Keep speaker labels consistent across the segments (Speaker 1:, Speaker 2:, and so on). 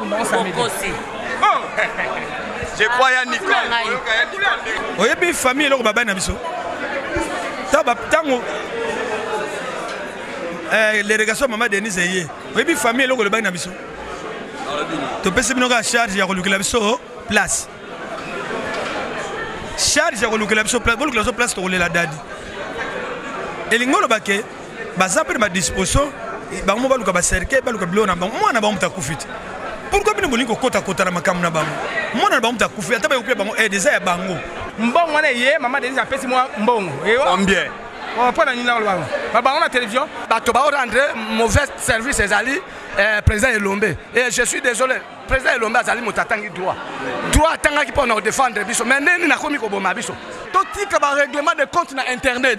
Speaker 1: bokosi
Speaker 2: oh! je crois ya nicoleoyebi
Speaker 3: famille eloko babali na biso ntango eh, l'irrigation mama denise eye oyebi famille eloko elobaki na biso topesi bino kaka charge ya kolukela biso place charge ya kolukela biso place bolukela biso place tokolela dadi elingi oloba ke baza mpe na badisposition bango mo baluka bacercueil baluka biloko na bango mwana na bango moto akufi te pourkui bino bolingi kokotakota na makambo na bango mwana na bango moto akufi ata bayokuya bango aide eh, eza ya bango mbongo wana eye
Speaker 1: mama denise apesi mwa mbongo combien
Speaker 2: mpo na nini
Speaker 1: nakoloba babango na télévision bato baorendre
Speaker 4: mauvais service ezali eh, président elombe et eh, je suis désolé président elombe azali moto atangi droit droit atangaki mpo na kodefendre biso mais ndeni nakomi koboma biso totika barèglement de compte na internet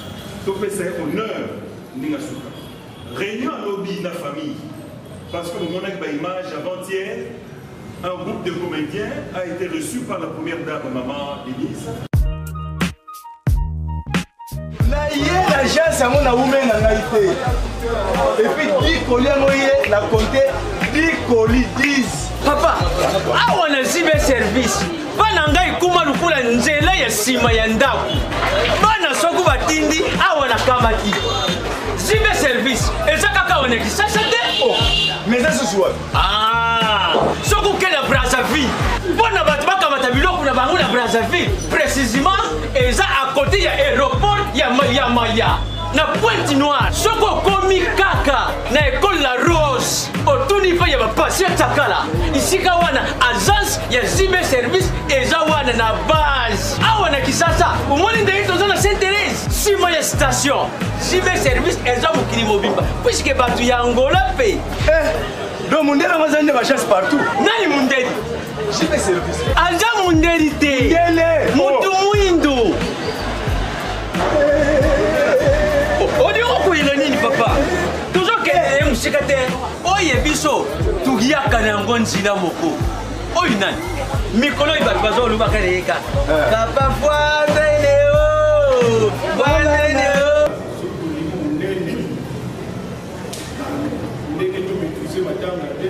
Speaker 5: topesa ye honneur ndenge asuka réunion à lobi na famille parce que bomonaki baimage avant-hier un groupe de comédiens a été reçu par la première dame maman denise
Speaker 6: naye l'agence yango nawumeli na ngai te epuis dikoli yango ye na compte dikoli 10 papa
Speaker 7: awa nazwi be service bana ngai ekoma lokola nzela ya nsima ya ndako bana soko batindi awa nakamati zibe service eza kaka awa na kisasa te o oh, mais eza
Speaker 6: susu wapi ah,
Speaker 7: soko oke na brazzaville mpo na bato bakamata biloko na bango na brazzaville précisément eza à côté ya aéroport ya maya maya na pointe noire soki okomi kaka na ekole la rose otuni mpe ya bapasi ya takala esika wana agence ya zime service eza wana na base awa na kisasa omoni ndenge toza na saint therese nsima ya station zime service eza mokili mobimba puiske bato ya angola mpe eh, do
Speaker 6: mondele yango azali nde bagence partout nani mondeli aza mondeli
Speaker 7: te motu oh.
Speaker 6: mwindu
Speaker 7: olingi okoyina nini papa tozokende ye mosika te oye biso toyaka na yango nzela moko oyo nani mikolo oyo bato bazolobaka na ye kaka eh. papa voiseneo oh, voiseneo oh. ndenge
Speaker 5: tomituse matanga te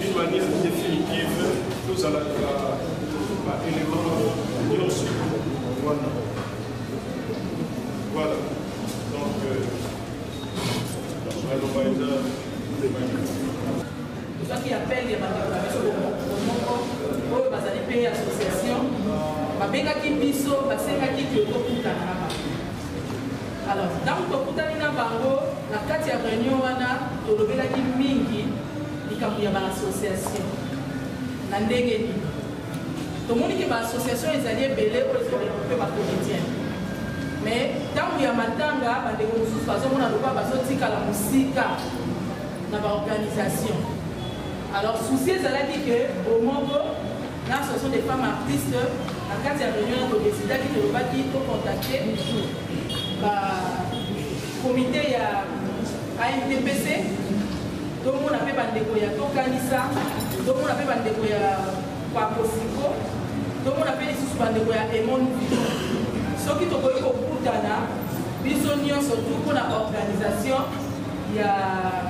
Speaker 5: D'une manière définitive, nous allons ba éléments nyonso wana voilà donc naloba eza tozwaki appel ya
Speaker 8: bandeko na biso moko oyo bazali mpe association babengaki biso basengaki ke tokutana na bango alors ntango tokutani na bango na kati ya réunion wana tolobelaki mingi likambo ya ba association na ndenge nini tomoni ke ba association ezali ebele oyo ezali regroupe ba comédien mais ntango ya matanga bandeko mosusu bazomona lokola bazotikala mosika na baorganisation alors souci ezalaki ke bomoko na association des femmes artistes na kati ya réunion todesidaki tolobaki tocontacte Comite ya ANTPC, tomona pe bandeko ya Tokanisa, tomona pe bandeko ya Pakosiko, tomona pe lisusu bandeko ya Emon Vivo. Soki tokoki kokutana biso nyonso tu mpo na organisation ya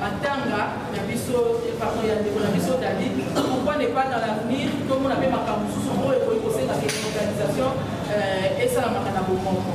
Speaker 8: matanga ya biso pardon ya ndeko na biso david pourquoi ne pas dans l'avenir tomona mpe makambo mosusu oyo ekoki kosenga ke organisation esalamaka na bomoko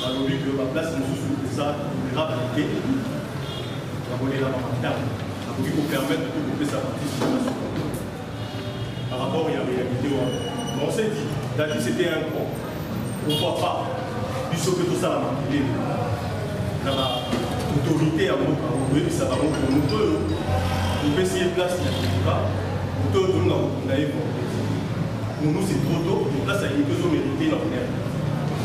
Speaker 5: balobi que ba place mosusu eza vulnerable te ya kolelaka matanga nakoki kopermettre to kopesa batisi par rapport ya réalité wana mais on s'est dit dati c'était un pro pourquoi pas biso mpe tosala makele na ba autorité ya mboka koyebisa bango ke moto oyo topesi ye place ya kokoka moto oyo tolonga kokunda ye pour nous c'est trop tôt place ya kokoka ezomérite na honneur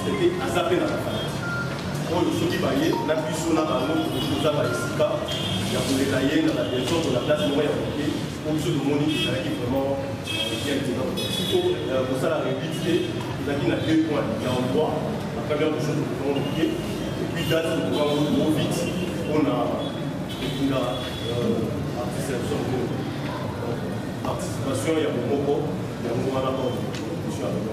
Speaker 5: Seke aza mpe na bafanati oyo soki baye na biso na bango toza ba esika ya kolela ye na badesoto na place moko ya koke po biso tomoni ezalaki vraiment bien te donc siko kosala rebite te ezalaki na deux points ya endroit na première question tokokongo moke epuis date tokokongo trop vite mpona kotinda artiste ya biso moko participation ya bomoko yango wana baomission ya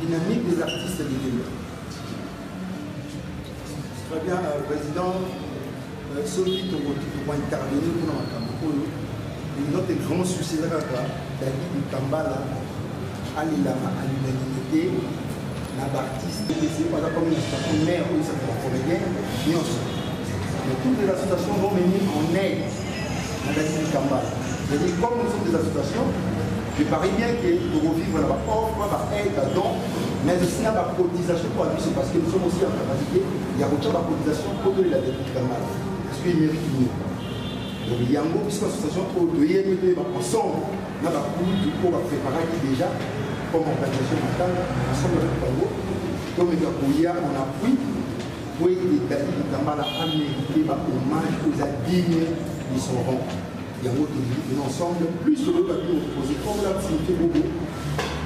Speaker 2: Dynamique des artistes de demain. Très bien, euh, Président, euh, soki tokointervenir mpona makambo oyo notre grand souci eza kaka david kambala alelaka à l'unanimité na baartiste aza comme na statut mare oyo ezaka bacomédien nyonso mais toutes les associations vont venir en aide na david kambala c'est-à-dire comme nous sommes des associations Je parie bien que toko vivre na ba offre, ba aide, ba don, mais aussi na ba cotisation pour biso parce que nous sommes aussi en capacité ya kotia ba cotisation mpo tolela depute Kangala parce que mérite mieux. Donc yango biso association oyo toyebi toyeba ensemble na bakulutu oyo bapreparaki déjà comme organisation matanga ensemble avec bango tomeka koya en appui mpo ete dadi kitambala amérite ba hommage oza digne de son rang yango tolingi ensemble plus oyoka bino opposé comme la signifié bobo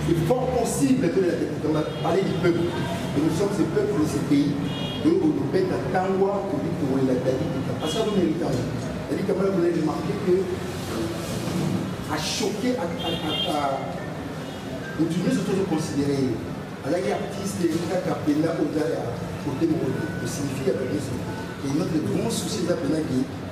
Speaker 2: c'est fort possible que la députation parler du peuple et nous sommes ce peuple de ce pays donc on nous bête à tangwa pour lui pour la David parce que nous méritons David Kamala voulait remarquer que a choqué à à à à nous tous nous tous considérer alaki artiste kaka mpenza oza ya kote moko te osignifie ya babiso et notre grand souci eza mpenza ke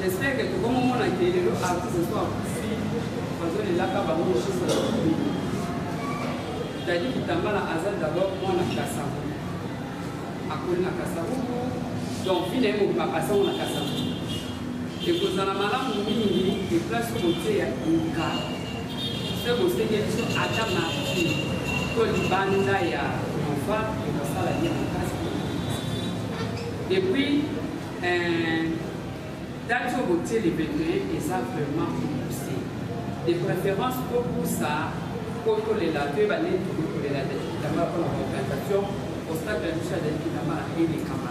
Speaker 9: J'espère que tout le monde a été le artiste ce soir. Parce que les lacs, bah, moi, je suis Dadi Kitambala aza d'abord mwana kasavu akoli na kasavu donc vi na ye mobima asango na kasavu ekozala malamu mingi eplace koteya luka se bosenge biso ata marti to libanda ya nova ekosala ye makasi epuis euh, date oyo botie le 21 eza vraiment pousse de préférence kopusa po tolela toyeba ndeni tokokolela dati kitambala mpona baorganisation ostade ya biso ya dati kitambala elekama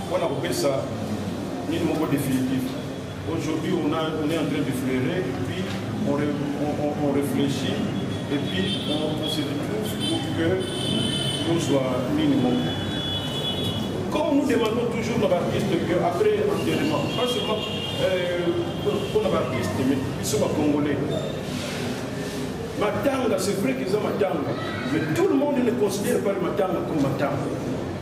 Speaker 5: Mpo na kopesa nini moko definitif aujourd'hui on, a, on est en train de fleurer et puis on, on, on, on réfléchit et puis on, on se retrouve pour que nous soit nini moko comme nous demandons toujours na baartiste que après enterrement pas seulement mpo na baartiste mais biso bacongolais matanga c'est vrai qu'eza matanga mais tout le monde ne considère pas le matanga comme matanga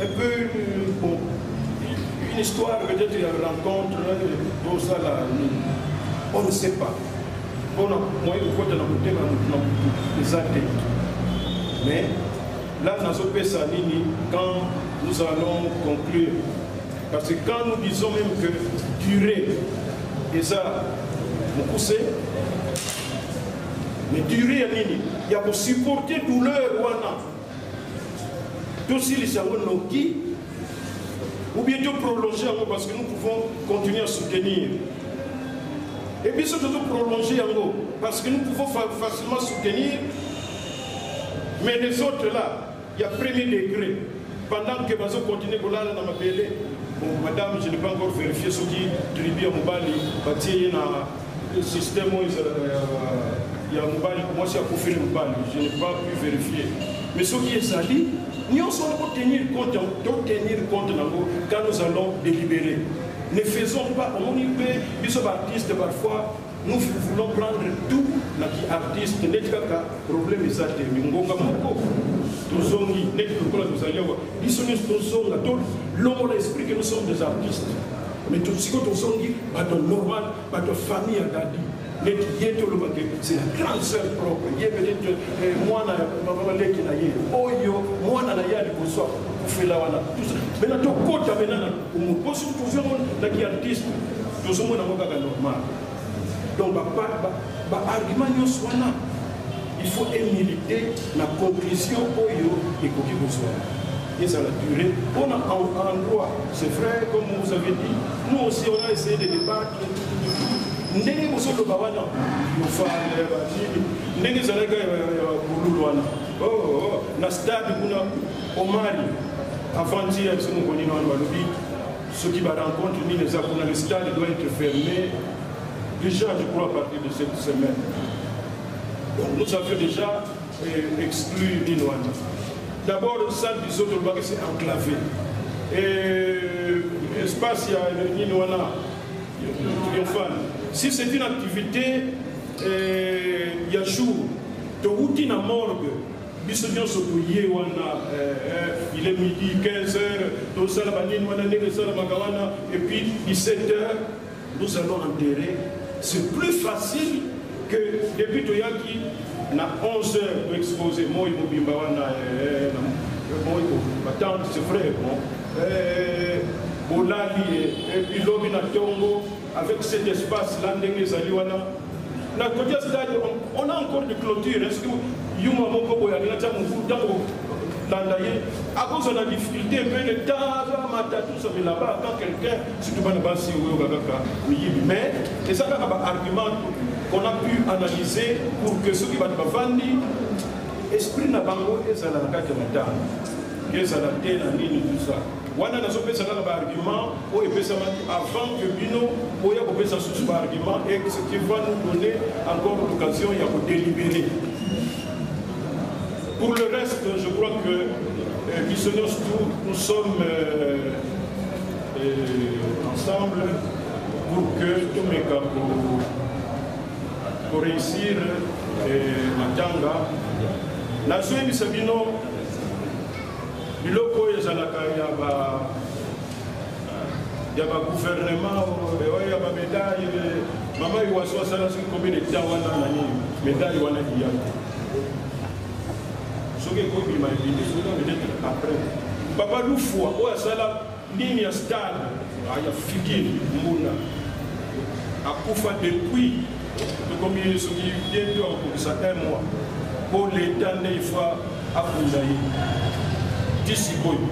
Speaker 5: Un peu une, bon, une histoire peut-être ya rencontre tosala nini on ne sait pas mpona moye kokota na motema na motu na motu eza te mais là nazopesa nini quand nous allons conclure parce que quand nous disons même que durée eza mokuse mais durée ya nini ya kosupporte douleur wana tosilisa yango noki ou bien to prolonger yango parce que nous pouvons continuer à soutenir et biso tozo prolonger yango parce que nous pouvons facilement soutenir mais les autres là il y a premier degré pendant que bazo continuer kolala na mabele bon madame je n'ai pas encore vérifié soki tribu ya mobali batie ye na système oyo ezalaka ya mobali mwasi akufeli mobali je ne pas pu vérifier mais soki ezali nyonso wana kotenir compte totenir compte nango quand nous allons délibérer ne faisons pas omoni mpe biso baartiste parfois nous voulons prendre tout na kiartiste neti kaka problème eza te mingonga moko tozongi neti lokola tozali awa biso nyonso tozonga tolongola esprit que nous sommes des artistes mais tosiko tozongi bato normal bato famille ya dadi neti ye te olobaki c'est la grande sœur propre ye peut-être eh, mwana ya leki na ye oyo mwana na ye ya liboso akufela wana mena tokota mena na lokumu po soki tozwi yango na kiartiste tozomona yango kaka normal donc baargument nyonso wana Il faut emilite na conclusion oyo ekoki kozwama ezala durée mpo na endroit c'est vrai comme vous avez dit nous aussi on a essayé de débattre ndenge bozoloba wana yofale banini ndenge ezalaki ya bululu wana oh, oh, oh. na stade kuna omari avandi ya biso mokonino wana balobi soki barencontre nini eza kuna le stade doit être fermé déjà je crois à partir de cette semaine Donc nous avions déjà euh, exclu Ninoana. D'abord, le salle du Soto Baki s'est enclavé. Et l'espace, il y a Ninoana, Triomphane. Si c'est une activité, euh, il y a jour, de routine à morgue, biso nyonso toye wana il est midi 15 heures tosala banini wana ndenge esalamaka wana epuis 17 heures nous allons enterrer c'est plus facile que depuis toyaki na 11 heures toexpose moi mobimba wana eh, eh, moi batante c'est vrai bon eh, bolali epilobi na ntongo avec cet espace la ndenge ezali wana na côté ya stade on a encore de clôture est ce que yuma moko boye alinga tia mokulu ntango landa ye akozwa na difficulté mpe le tara matatusomi là-bas quand quelqu'un surtout bana basi oyoka kaka miyibi mais eza kaka baargument qu'on a pu analyser pour que soki bato bavandi esprit na bango ezala na kati ya matanga ezala te na nini tout ça Wana nazo pesa kaka ba argument oyo epesamaki avant que bino boya kopesa susu ba argument et ce qui va nous donner encore l'occasion ya ko délibérer. Pour le reste, je crois que euh, biso nyonso tout nous sommes euh, euh, ensemble pour que tomeka ko ko réussir euh, matanga. Nazoyebisa bino biloko oyo ezalaka ya ba ya ba gouvernement ya ba medaille mama iwaso asala soki komi na etat wana na nini medaille wana liya soki ekobima ebimi soki peut-être après papa lufua oyo asala Nini ya stade ah, ya figure mbunda akufa depuis tokomi soki bientôt akokisa un mois mpo leta nde ifwa akunda ye ti sikoyo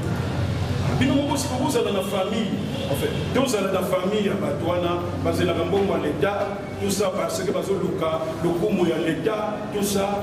Speaker 5: bino moko siko bozala na famille enfin tozala na famille ya bato wana bazelaka mbongo ya leta tout ça parce que bazoluka lokumu ya leta tout ça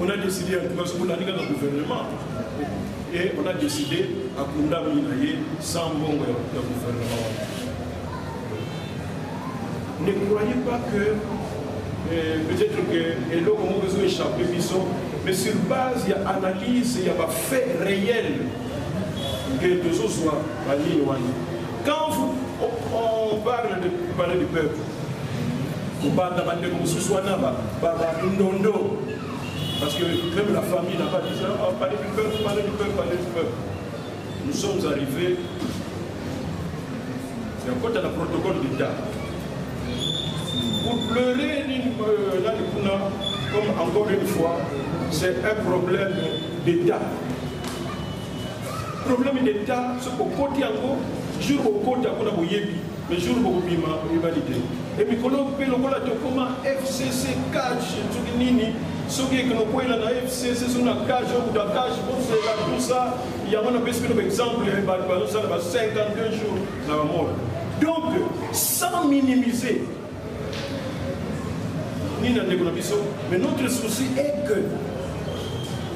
Speaker 5: on a décidé en tout cas soki olandi kaka gouvernement et on a décidé akundami na ye sans mbongo ya gouvernement wana ne croyez pas que euh, peut-être que eloko moko ezo échappe biso mais sur base ya analyse ya bafait réel que tozozwa banini wana quand vous, on parle de parler du peuple kobanda bandeko mosusu wana bandondo parce que même la famille n'a pas dit ça oh, parler du peuple parler du peuple parler du peuple nous sommes arrivés c'est un côté la protocole d'état pour pleurer euh, là comme encore une fois c'est un problème d'état problème d'état ce kokoti yango jour okoti yango na boyebi Le jour bokobima oyeba lide e mikolo mpe lokola tokoma fcc cage soki nini soki ekenokwela na fcc soki na cage okuta cage bozela tusa yango napesi bino baexemple bato bazosala ba 52 jours na bamona donc sans minimiser nini na ndeko na biso mais notre souci est que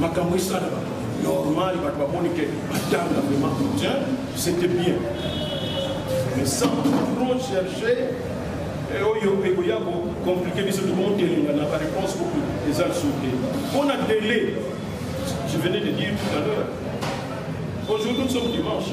Speaker 5: makambo esalama normal bato bamoni ke batanga vraiment soutien c'était bien mais sans trop chercher eh, oyo ekoya kocomplike biso tokomotelenga na baréponse kutu eza lisusu te mpo na délai je venais de dire tout à l'heure aujourd'hui nous sommes dimanche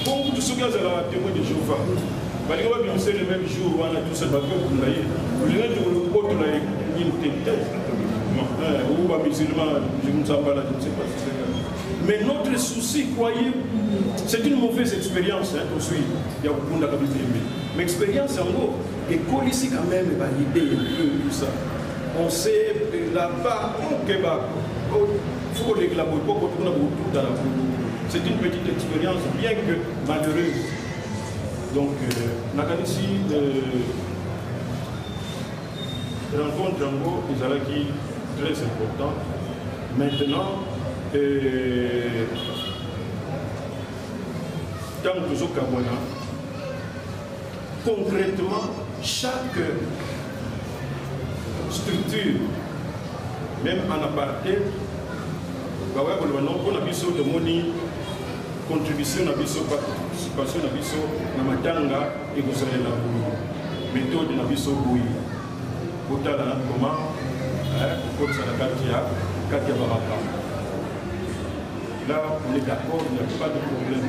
Speaker 5: mpo kutu soki azalaka témoin de jehova balingi babimisa le même jour wana tosa bato bakunda ye olinga te kolokotola ye nini te te ou bamusulman msambala je ne sais pas si c'est mais notre souci croyez c'est une mauvaise expérience tosui ya kokundaka bitembe mais expérience yango ekolisi quand même baide ya peu tout ça on sait là-bas okeba faut kolekela boye mpo kotuna bokuta na kutu c'est une petite expérience bien que malheureuse donc euh, nakanisi euh, rencontre yango ezalaki très important maintenant euh, ntango tozokabwana Concrètement, chaque structure, même en aparté, bakoya koloba no mpo na biso tomoni contribution na biso participation na biso na matanga ekosalela méthode na biso boye kotala koma kokotisa na kati ya kati ya bamakambo là on est d'accord il n'y a pas de problème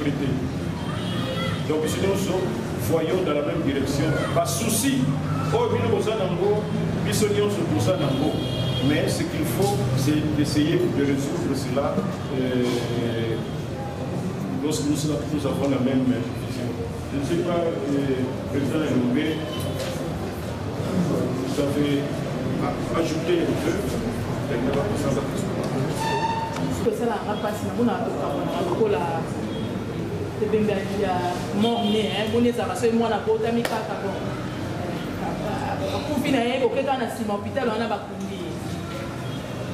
Speaker 5: prete donc biso nyonso voyons dans la même direction basusi oyo bino boza nango biso nyonso toza nango mais ce qu'il faut c'est d'essayer de résoudre cela euh, lorsque nous, nous avons la même vision je ne sais pas euh, président elombe Vous avez ajouté un peu, elle n'a pas besoin de tosalaka mpasi na mpona tokamonaka lokola ebembe ya morne moni ezalaka
Speaker 8: soki mwana abotami kaka bon akufi na ye kokeka na nsima hôpital wana bakundi ye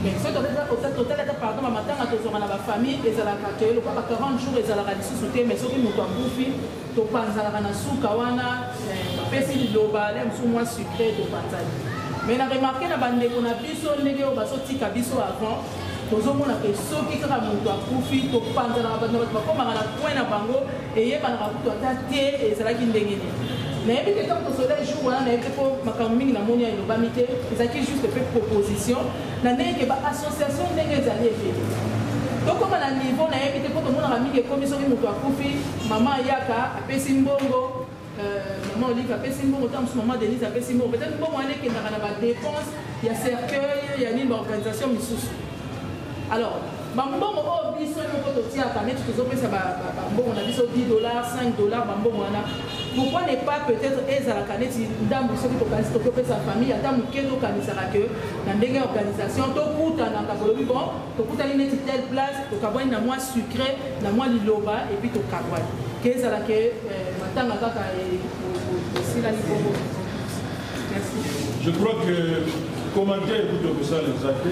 Speaker 8: mais soki totalaka pardon bamatanga tozwaka na bafamille ezalaka te lokola ba 40 jours ezalaka lisusu te mais soki moto akufi topanzanaka na suka wana bapesi liloba le mosusu mwa sucre topanzani mai na remarke na bandeko na biso ndenge oyo bazotika biso avant tozomona ke soki kaka moto akufi topanzanaka bato na bato bakomaka na point na bango eyebanaka kutu ata te ezalaki ndenge nini nayebi te ntango tosola jour wana nayebi te mpo makambo mingi namoni ya elobami te ezalaki juste mpe proposition na ndenge ke baassociation ndenge ezali ebele tokoma na niveau nayebi te mpo tomonaka mingi ekomi soki moto akufi Maman Ayaka apesi mbongo, euh, maman Olive apesi mbongo, tant que maman Denise apesi mbongo. Peut-être mbongo wana ekendaka na ba dépenses ya cercueil ya nini ba organisation misusu. Alors, ba mbongo oyo biso moko totiaka neti tozopesa bambongo na biso 10 dollars 5 dollars bambongo wana pourquoi ne pas peut-être ezalaka neti ndambo soki tokanisi tokopesa famille ata moke tokanisaka ke na ndenge ya organisation tokutanaka bolobi bon tokutani neti telle place tokabwani na mwa sucre na mwa liloba epi tokabwani
Speaker 5: ke ezala ke eh, matanga kaka esilani bongo je crois que commentaire kutu okosala eza te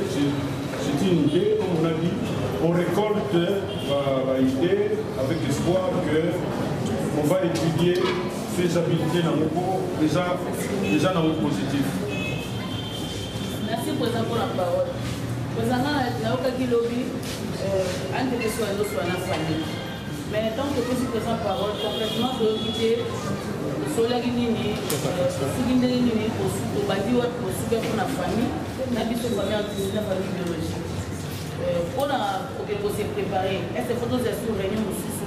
Speaker 5: c'est une idée comme on a dit on récolte baidée euh, avec l'espoir que on va étudier faisabilité na moko eza
Speaker 8: eza na moko
Speaker 5: positif merci
Speaker 8: président pour la parole ozanga nayokaki lobi Euh, ante biso ya nyonso wana fali mais ntango topesi présent parole concrètement toyoki te tosolaki nini soki ndenge nini tobandi wapi kosuka mpo na famille na biso famille artisina famille biologique mpo na kokende kose préparer ese fo tozela sur réunion mosusu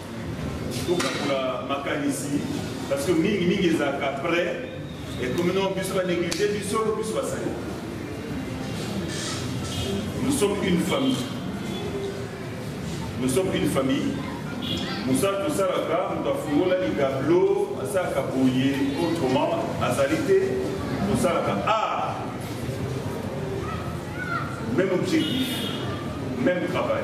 Speaker 5: tokabola makanisi parce que mingi mingi ezalaka après ekomi no biso banéglige biso biso basali nous sommes une famille nous sommes une famille mosala tosalaka moto afungola ligablo asalaka boye autrement azali te tosalaka art même objectif même travail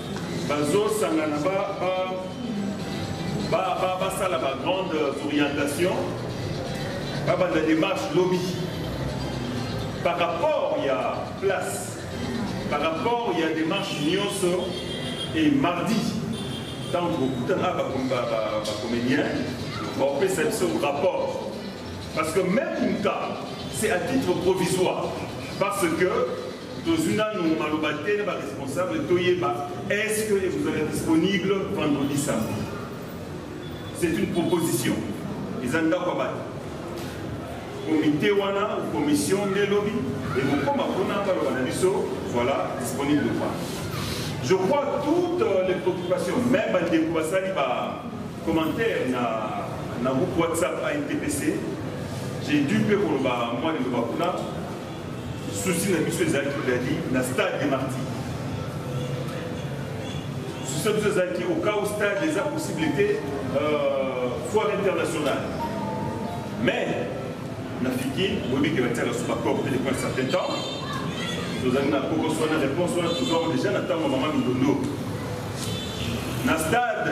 Speaker 5: bazosangana basala ba grande orientation babanda démarche lobi par rapport ya place par rapport ya démarche nyonso et mardi ntango bokutana bacomédien baopesa biso rapport parce que même une cas c'est à titre provisoire parce que tozwi nanu maloba te na ba responsable toyeba est ce que ekozala disponible vendredi samedi c'est une proposition eza ndako ya bato komite wana commission nde lobi ekokoma mpona baloba na biso voilà disponible ou pas je crois toutes euh, les préoccupations même bandeko basali ba commentaire na, na groupe whatsapp antpc j'ai dû mpe koloba mwa liloba kuna souci na biso ezalaki dadi na stade de marti souci na biso ezalaki au cas où stade eza possible te euh, foire internationale mais na fiki boyebi ke batiaka so bacor te depuis un certain temps tozali na kokos wana réponse wana tozwaka déjà na ntango mama mindondo na stade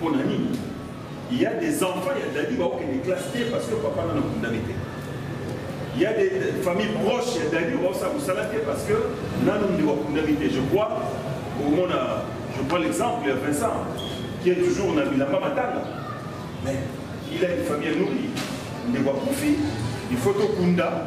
Speaker 5: pona nini il y a des enfants ya dadi baokende classe te parce que papa nana kundami te il y a des familles proches ya dadi baosala mosala te parce que nanu nde bakundami te je crois omona je prends l'exemple ya vincent qui est toujours na bilamba matanga mais il a une famille nourrie ndeko akufi il faut tokunda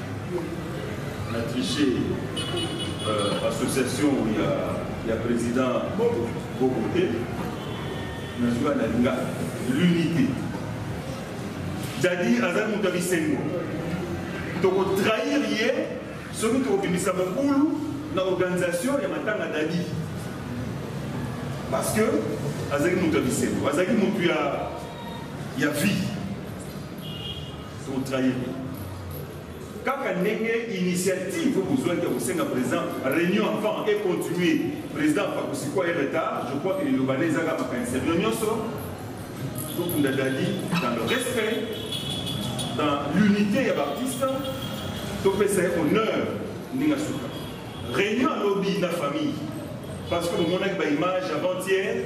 Speaker 5: na triche euh, association ya, ya président bobo bobo te nazuka na linga l'unité jadi aza moto ya bisengo tokotrahir ye soki tokobimisa mobulu na organisation ya matanga dadi parce que azalaki moto ya bisengo azalaki moto ya, ya vie Pour trahir kaka ndenge initiative oyo bozwaki ya kosenga président réunion avant et continue président akosikwa ye retard je crois que liloba na ezaka makanisa bino nyonso tokunda dadi dans le respect dans l'unité ya baartiste topesa ye honneur ndenge asuka réunion alobi na famille parce que bomonaki baimage avant-hier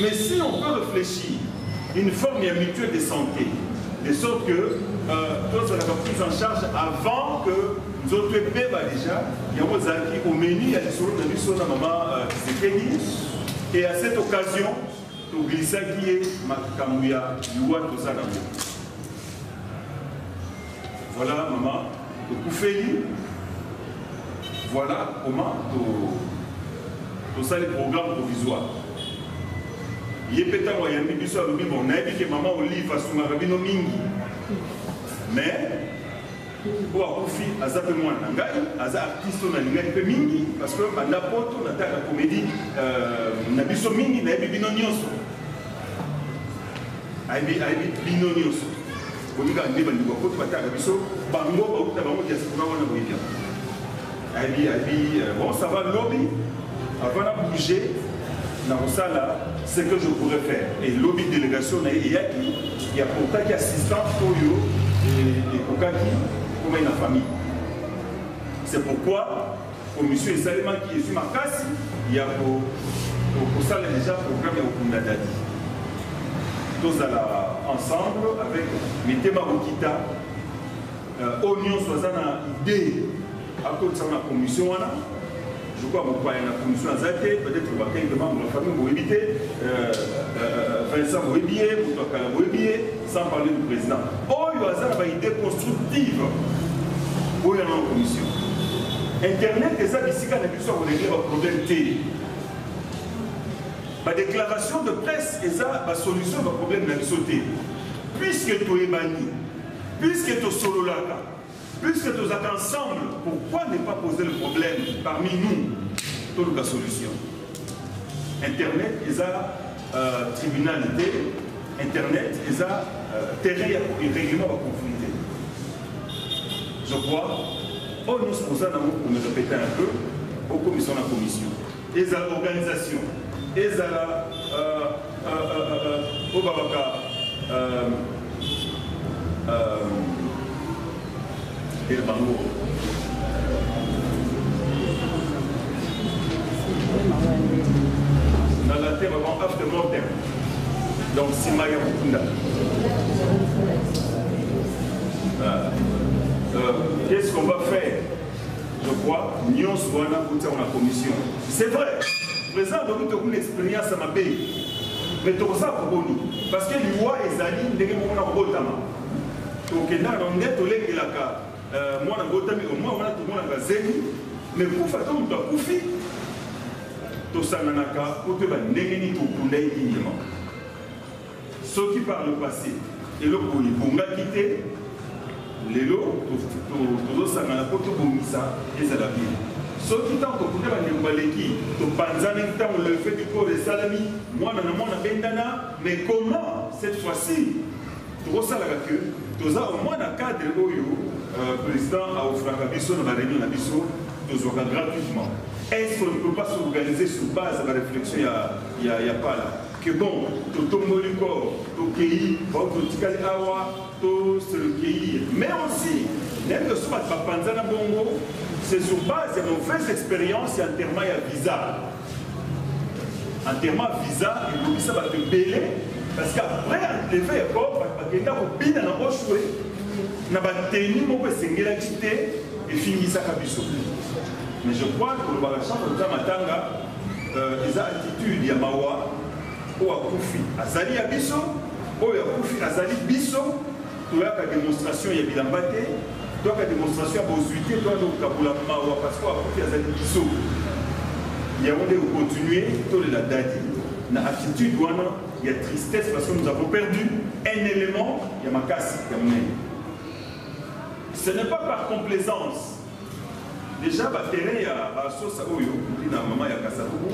Speaker 5: Mais si on peut réfléchir une forme ya mutuelle de santé, de sorte que euh, tous la prise en charge avant que nous autres ebeba déjà, yango ezalaki au menu ya lisolo na biso na mama euh, Tshisekedi et à cette occasion tobilisaki ye makambo ya liwa toza nango Voilà maman tokufeli voilà comment tosali programme provisoire ye mpe ntango ayambi biso alobi bon nayebi ke mama olive asungaka bino mingi mais mpo akufi aza mpe mwana na ngai aza artiste oyo nalingaki mpe mingi parce que banda poto nataka comédie euh, na biso mingi nayebi bino nyonso ayebi bino nyonso Bolinga nde bandeko ya poto bataka biso bango bauta bango diaspora wana boyebia ayebi ayebi euh, bon ça va lobi avant na bouger nakosala ce que je pourrais faire et lobi délégation na ye eyaki ya portaki assistance oyo ekokaki komai na famille c'est pourquoi Commission esalemaki ezwi makasi ya kosala deja programme ya kokunda dadi tozala ensemble avec mitema kokita euh, oyo nyonso aza na idee akotisaka na commission wana je crois mopaya na commission aza te peut-être bakelke membre ya famille boyebi te euh, euh, vincent boyebi ye moto akala boyebi ye sans parler du président oyo aza na baidée constructive oyo yana na commission internet eza bisika na biso ya kolengele baproblème te badéclaration de presse eza basolution ya baproblème na biso te puiske toyebani puiske tosololaka Puisque tozalaka ensemble, pourquoi ne pas poser le problème parmi nous toluka solution internet eza euh, tribunal te internet eza euh, terrain ya règlement baconflit te je crois oyo nyonso boza nango komeka peta un peu okomisa na commission Ezala organisation, ezala oyo babaka ele bango na latin vraiment after mortem donc nsima ya kokunda qu'est-ce qu'on va faire Je crois, nyonso wana kotia na commission. C'est vrai, président alobi tokuna expérience ya mabe mais tokosala koboni parce que liwa ezali ndenge moko na kobotama tokendaka na nde tolengelaka euh, mwana botami omwa wana tomonaka zemi mais kufa to moto akufi tosanganaka mpo toyeba ndenge nini tokunda ye nini Soki par le passe eloko oyo ebongaki te, lelo tozosangana mpo tobongisa ezala bien. Soki ntango tokuta bandeko baleki, topanzani ntango lefe dikoro esalami, mwana na mwana abendana, mais comment cette fois-ci tokosalaka que toza au moins na cadre oyo euh, président aofraka biso na bareunion na biso tozwaka gratuitement est ce qu'on ne peut pas s'organiser sur base ya baréflexion ya, ya, ya pala Que bon totomboli corps tokeyi bao totikali awa to se recueillir mais aussi nayebi osu bato bapanzana bongo c'est sur base ya mauvaise expérience ya enterrement ya visa enterrement visa elobisa bato ebele parce que après enterrement ya corps bato bakenda kobina na oshwe na bateni moko esengelaki te efingisaka biso mais je crois kolobaka chambre ta matanga Euh, eza attitude ya mawa oyo akufi azali ya biso oyo akufi azali biso toyaka demonstration ya bilamba te toyaka demonstration ya bozwi te toyaka kokabola mawa parce que akufi azali biso yango nde kocontinue tolela dadi na attitude wana ya tristesse parce que nous avons perdu un élément ya makasi ya monene ce n'est pas par complaisance Dejà ba terrain ya ba sosa oyo kuti na mama ya Kasavubu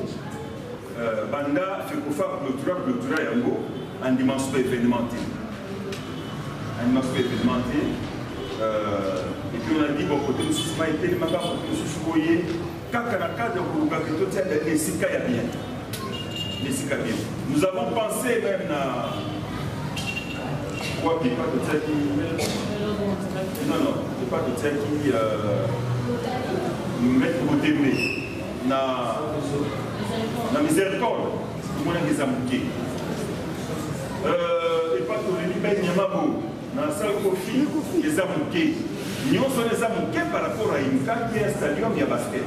Speaker 5: euh, banda fekofa clôtura clôtura yango andimanso ba événement te andimanso ba événement te euh, epuis on a dit bon kote mosusu mai etelemaka kote mosusu boye kaka na cadre ya kolukaka totia esika ya bien esika bien nous avons pensé même na wapi epa totiaki non non epa totiaki euh, maître botembe na na miséricorde tomonaki eza moke euh, epa toleli banyama bo na sale kofi eza moke nyonso wana eza moke par rapport à une carte ya stadium ya basket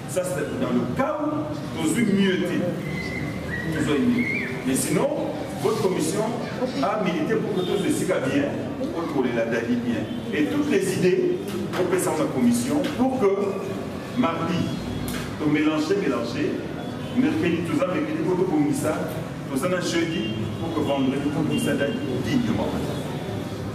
Speaker 5: Ça c'est dans le cas où tozwi mieux te tozwa mieux mais sinon votre commission a milité pour que tous les siga bien pour les ladali bien et toutes les idées pour que ça la commission pour que mardi to mélanger mélanger mercredi toza mercredi pour tobongisa toza na jeudi pour que vendredi tobongisa dali dignement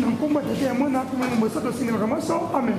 Speaker 2: na nkombo ya tete ya mwana mpe molimo mosato osengelaka maso amen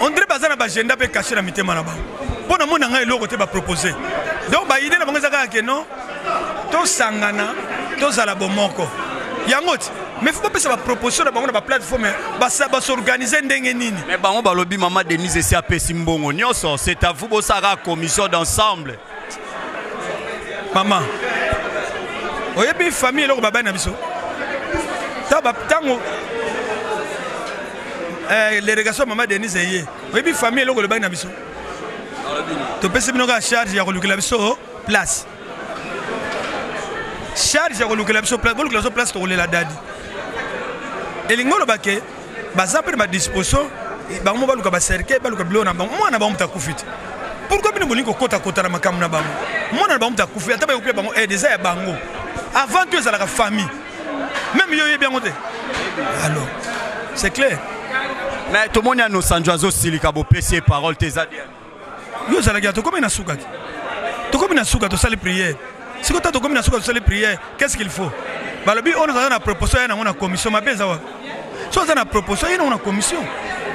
Speaker 3: on dirait baza na bagenda mpe kashe na mitema na bango mpo na mona ngai eloko te bapropose donc baide na bango eza kaka ke non tosangana tozala bomoko yango ti mais faut bapesa baproposition na bango na baplateforme basorganize ndenge nini mais bango
Speaker 6: balobi mama denise esi apesi mbongo nyonso c'est à vous bosalaka commission d'ensemble
Speaker 3: mama oyebi famille eloko babali na biso ntango eh, delegation mama denise eye oyebi famille eloko elobaki na biso topesi bino kaka charge ya kolukela biso place charge ya kolukela biso place bolukela biso place tokolela dadi elingi oloba ke baza mpe na badisposition bango mo baluka bacercueil baluka biloko na bango mwana na bango moto akufi te pourkui bino bolingi kokotakota na makambo na bango mwana na bango moto akufi ata bayokuya bango aide eh, eza ya bango avant tout ezalaka famille meme yo oyebi yango te alors c'est clair mais
Speaker 6: tomoni anosanjo azosilika bopesi ye parole te eza yo ozalaki ya
Speaker 3: tokomi na suka te tokomi na suka tosali priere siko ta tokomi na suka tosali priere qu'est ce qu'il faut balobi oyo naza na proposition ya nango na commission mabe eza wapi so aza na proposition ye nango na commission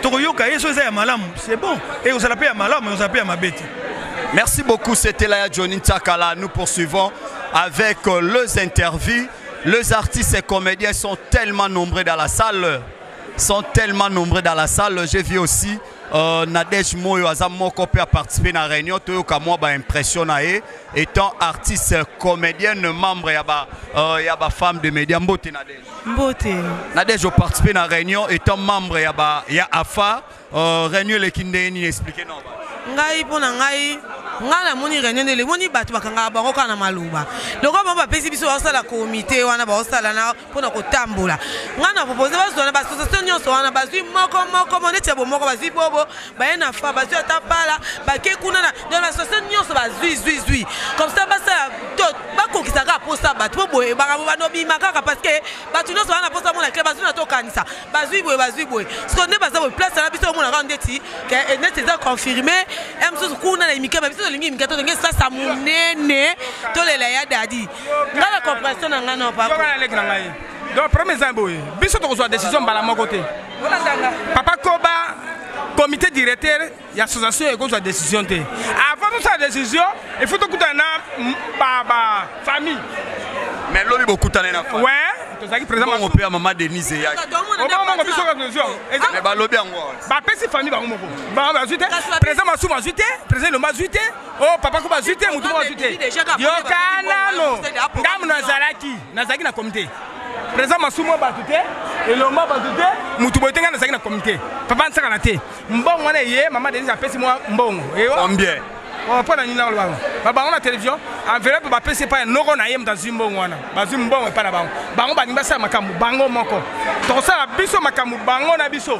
Speaker 3: tokoyoka ye so eza ya malamu c'est bon ekozala mpe ya malamu ekozala mpe ya mabe te Merci beaucoup,
Speaker 6: c'était Laya Johnny Tsakala. Nous poursuivons avec euh, les interviews. Les artistes et comédiens sont tellement nombreux dans la salle, sont tellement nombreux dans la salle. J'ai vu aussi Euh, Nadège Moyo aza moko pe a participer na réunion toyoka mwa ba impression na ye étant artiste comédienne membre ya ba euh, ya ba femme de média mbote Nadège mbote
Speaker 10: Nadège participer
Speaker 6: na réunion étant membre ya ba ya AFA euh, réunion eleki ndenge nini expliquer non ngai mpo na
Speaker 10: ngai ngai namoni réunion ndele emoni bato bakangaka bango kaka na maloba lokola bango bapesi biso baosala komite wana baosala na mpo na kotambola ngai na propose bazwa na baassociation nyonso wana bazwi moko moko mo neti ya bomoko bazwi bobo baye na fa bazwi ata pala bake kuna na don baassociation nyonso bazwi zwi zwi comme ça basala to bakokisa kaka mposa bato mpo boye makambo bando bima kaka parce que bato nyonso wana mposa mona kle bazwi na tokanisa bazwi boye bazwi boye siko nde baza boye place na biso omona kaka ndeti eh, neti eza confirme ya eh, mosusu kuna na imike ba biso tolingi imike tolingi esasa monene tolela ya dadi ngai na compression na ngai nopaleki na ngai donc
Speaker 1: problème eza boye biso tokozwa décision mbala moko te papa koba comité directeur ya association ekozwa décision te avant tosala décision il faut tokutana na bafamille mais
Speaker 6: lobi bokutane na ouais tozalaki
Speaker 1: présidentmongo mpe ya mama denise
Speaker 6: eyakimongo biso
Speaker 1: balobi yango
Speaker 6: bapesi famille
Speaker 1: bango moko bazwi te président masumu azwi te président elomba azwi te oh papa kuba azwi te motu moko azwi te yoka nano ngambo nazalaki nazalaki na komite président masumu bato te elomba bato te motu boye te ngai nazalaki na komite papa nsakana te mbongo wana eye mama denise apesi mwa mbongo combien
Speaker 6: oh, mpo na nini
Speaker 1: nakoloba yango babango na télévision enveloppe bapesi epai ya noko na ye moto azwi mbongo wana bazwi mbongo epai na bango bango balingi basala makambo bango moko tokosala biso makambo bango na biso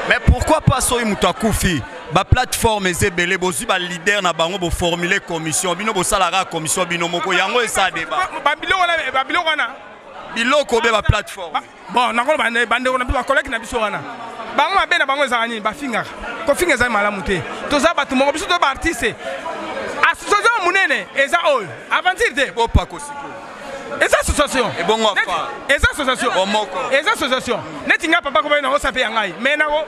Speaker 1: mais pourquoi
Speaker 6: pas soki moto akufi ba plateforme eza ebele bozwi ba leader na bango boformule commission bino bosalaka commission bino moko yango esa deba
Speaker 1: babiloko wana biloko be
Speaker 6: ba plateforme bon nakoloba
Speaker 1: bandeko na biso bakolaki na biso wana bango mabe na bango ezalaka nini bafingaka kofinga ezali malamu te toza bato moko biso to baartiste association monene eza oyo aventure te bopakosiko
Speaker 6: eza association
Speaker 1: ebongo
Speaker 6: eza association
Speaker 1: omoko eza
Speaker 6: association
Speaker 1: neti ngai papa kobai nango sape ya ngai me nango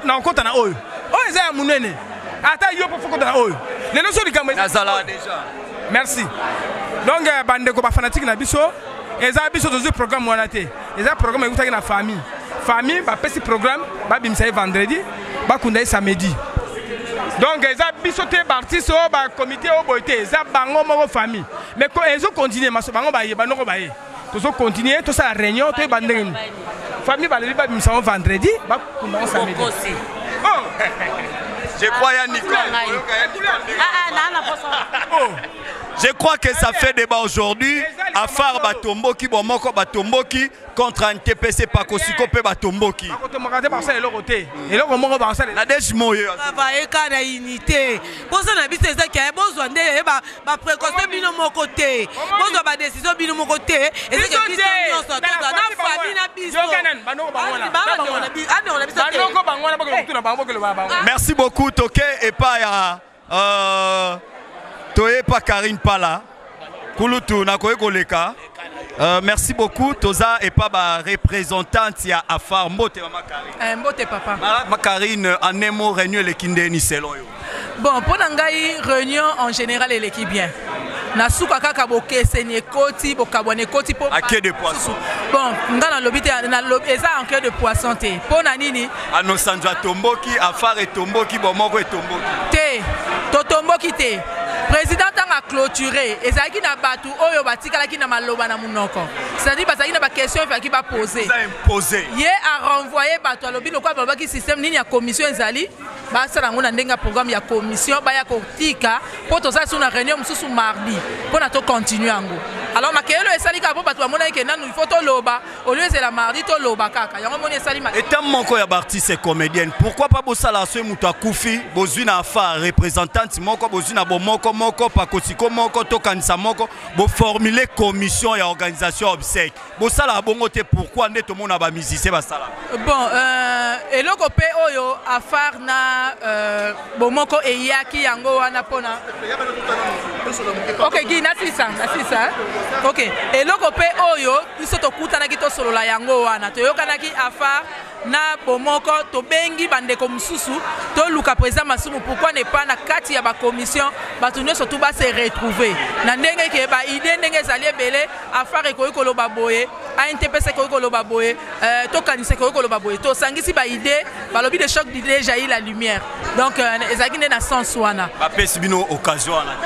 Speaker 1: nakokota na oyo oyo eza ya monene ata yo mpo fokota na oyo lelo so likambo ezala deja
Speaker 6: merci
Speaker 1: donc euh, bandeko bafanatike na biso eza biso tozwi programme wana te eza programme eutaki na famille famille bapesi programme babimisa ye vendredi bakunda ye samedi donc eza biso te baartiste oyo bacomité oyo boye te eza bango moko famille mais ezokontinue maso bango baye banoko baye tozo continuer tosala réunion toyeba ndenge nini famille balobi babimisa yango vendredi bakunda yango samedi oh!
Speaker 6: je crois ya nicole Je crois que ça fait débat aujourd'hui. À part Batomboki, Bomoko Batomboki, contre un TPC Pakosiko pe Batomboki. Nadège Moye. Baba eka na
Speaker 10: unité. posa na biso eza kia bozwa nde eh, ba précaution bino moko te bozwa ba décision bino moko te eza kia biso nyonso tozwa na famille na biso
Speaker 6: merci beaucoup toke epa ya euh, toye pa karine pala kulutu nakoki koleka Euh, merci beaucoup. Toza et pas ma représentante ya Afar Mbote Mama Karine. Eh, Mbote papa. Ma, ma
Speaker 8: Karine
Speaker 6: en nemo réunion le kindeni selon yo. Bon, pour nangai
Speaker 8: réunion en général elle est bien. na suka kaka bokeseni ekoti bokabwana ekoti mpo ake de poisson
Speaker 6: bon nga
Speaker 8: nalobi te eza anke de poisson te mpo na nini anosanjo
Speaker 6: atomboki afare etomboki bomoko etomboki te
Speaker 8: totomboki te President ntango a clôture ezalaki na bato oyo batikalaki na maloba na monoko c'est-à-dire bazalaki na baquestion efalaki bapose ye
Speaker 6: arenvoye
Speaker 8: bato alobi lokola balobaki système nini ya commission ezali basala yango na ndenge ya programme ya commission baya kotika mpo tozala so na réunion mosusu mardi mpo na tocontinue yango alors makeyelo esali kaka mpo bato bamonaki ke nanu il faut toloba olio ezela mardi toloba kaka yango moni esali ma eta moko ya baartiste
Speaker 6: et comédienne pourquoi pas bosalaka soki moto akufi bozwi na afa représentante moko bozwi na bomoko moko pakosiko moko tokanisa moko boformule commission ya organisation obsèque bosalaka bongo te pourquoi nde tomona bamusicien basala bon euh,
Speaker 8: eloko mpe oyo afar na euh, bomoko eyaki yango wana mpona ok gi nasisa nasisa ok eloko mpe oyo biso tokutanaki tosolola yango wana toyokanaki afar na bomoko tobengi bandeko mosusu toluka président masumu pourkui ne pas na kati ya bacommission bato nyonso tu base retrouve na ndenge ke baide ndenge ezali ebele afar ekoki koloba boye ANTPS ekoki koloba boye, euh, tokanisa ekoki koloba boye, tosangisi ba idée, balobi de choc d'idée jaillit la lumière. Donc euh, ezalaki nde na sens wana. Bapesi bino occasion
Speaker 6: wana.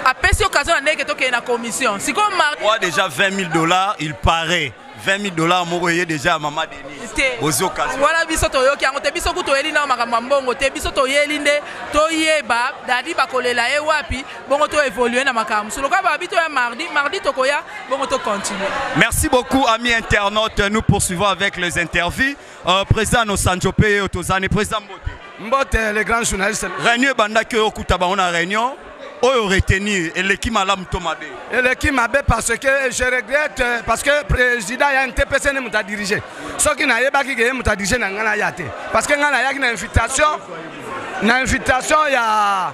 Speaker 6: Apesi occasion
Speaker 8: na ndenge tokende na commission. Sikoyo Marc. Moi déjà 20 000
Speaker 6: dollars, il paraît. 20 000 dollars moko eye déjà mama denise ozi okasi wana biso toyoki yango
Speaker 8: te biso kutu toyeli nao makambo ya mbongo te biso toyeli nde toyeba dadi bakolela ye wapi bongo to évoluer na makambo so lokola babi toya mardi mardi tokoya bongo to continuer merci beaucoup ami
Speaker 6: internaute nous poursuivons avec les interviews euh, président nosanjo mpe yeyo tozani président mbote mbote le
Speaker 4: grand journaliste réunion ebandaki oyo
Speaker 6: okuta bango na réunion oyo retenir eleki malamu to mabe eleki mabe
Speaker 4: parce que je regrette euh, parce que président ya ntpc nde moto adirige soki nayebaki ke ye moto adirige na ngai naya te parce que ngai nayaki na invitation na invitation ya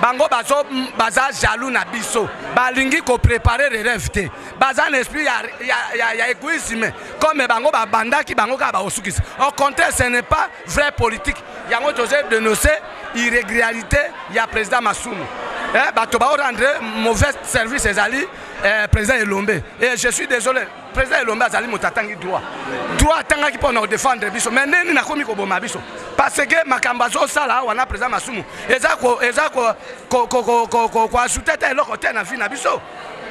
Speaker 4: bango bazo baza jaloux na biso balingi ko préparer le rêve te baza na esprit ya, ya, ya, ya égoïsme comme bango babandaki bango kaka bakosukisa au contraire ce n'est pas vrai politique yango tozo dénonce irrégularité ya président masumu eh, bato baorendre mauvais service ezali eh, président elombe et eh, je suis désolé Président Elombe azali moto atangi droit. Droit atangaki mpo na kodefendre biso. Mais nde nini nakomi koboma biso? Parce que makambo azosala awa na président Masumu eza ko eza ko ko ko ko ko ko ko ajoute ata eloko te na vie na biso.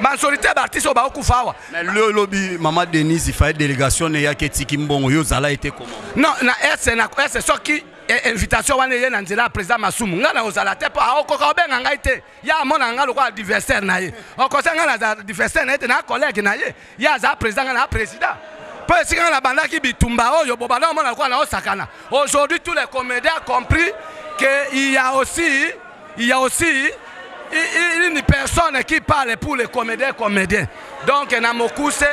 Speaker 4: Majorité ya baartiste oyo baokufa awa. Mais lelo lobi
Speaker 6: mama Denise ifaye délégation ne yaki etiki mbongo yo ozala ete comment? Non, na est
Speaker 4: na est soki invitation wana eye na nzela ya président Masumu. Ngai na ozala te mpo aokoka obenga ngai te. ya amona nga lokola adversaire na ye okosa nga naza adversaire na ye te na collègue na ye ye aza président nga na président mpo esika nga nabandaki bitumba oyo bobanda omona lokola na osakana aujourd'hui tous les comédiens compris que il y a aussi il y a aussi une personne qui parle pour les comédiens comédiens donc na mokuse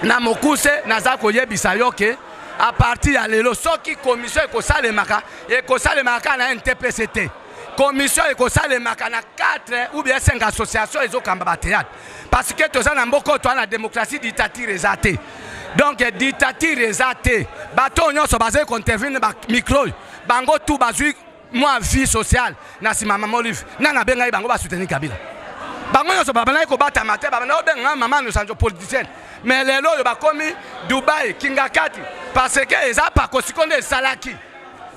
Speaker 4: na mokuse naza koyebisa yo ke a partir ya lelo soki commission ekosalemaka ekosalemaka kaka na ntpc te commission ekosalemaka na 4 ou bien 5 association ezokamba batheatre parce que toza na mboka oyo toa na démocratie dictature eza te donc dictature eza te bato oyo nyonso bazali kointervenir na micro oyo bango tu bazwi mwa vie sociale na nsima mama olive nani abengaki bango basoutenir kabila bango nyonso babandaki kobatama te babandaki kobenga mama nosanjo politicienne mais lelo oyo bakomi dubai kingakati parce que eza pakosiko nde esalaki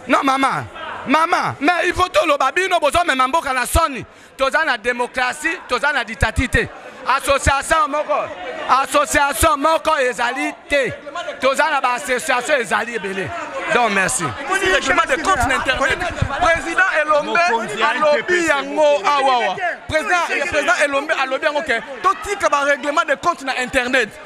Speaker 4: Non maman, maman, mais il faut toloba bino bozo mema mboka na soni. Toza na démocratie, toza na dictature te. Association moko, association moko ezali te. Toza na ba association ezali ebele. Donc merci. Règlement de compte
Speaker 11: na internet. Président Elombe alobi yango awawa. Président président Elombe alobi yango ke totika ba règlement de compte na internet.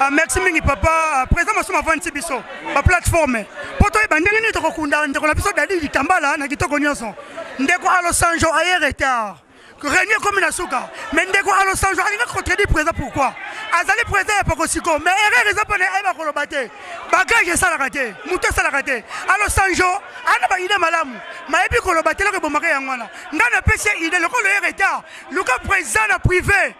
Speaker 6: Ah, merci mingi
Speaker 12: papa président masumu avandisi biso baplateforme mpo toyeba ndenge nini tokokunda ndeko na biso dadi litambala na kitoko nyonso ndeko alosanjo aye retard renie ekomi na suka me ndeko alosanjo alingaki kotredi président pourkui azali président ya pakosiko me erreur eza mpona ayeba koloba te bagage esalaka te moto esalaka te alosanjo ana baide malamu mayebi koloba te eloko ebomaka yango wana ngai napesi ye ide lokola ye retard luka président na privé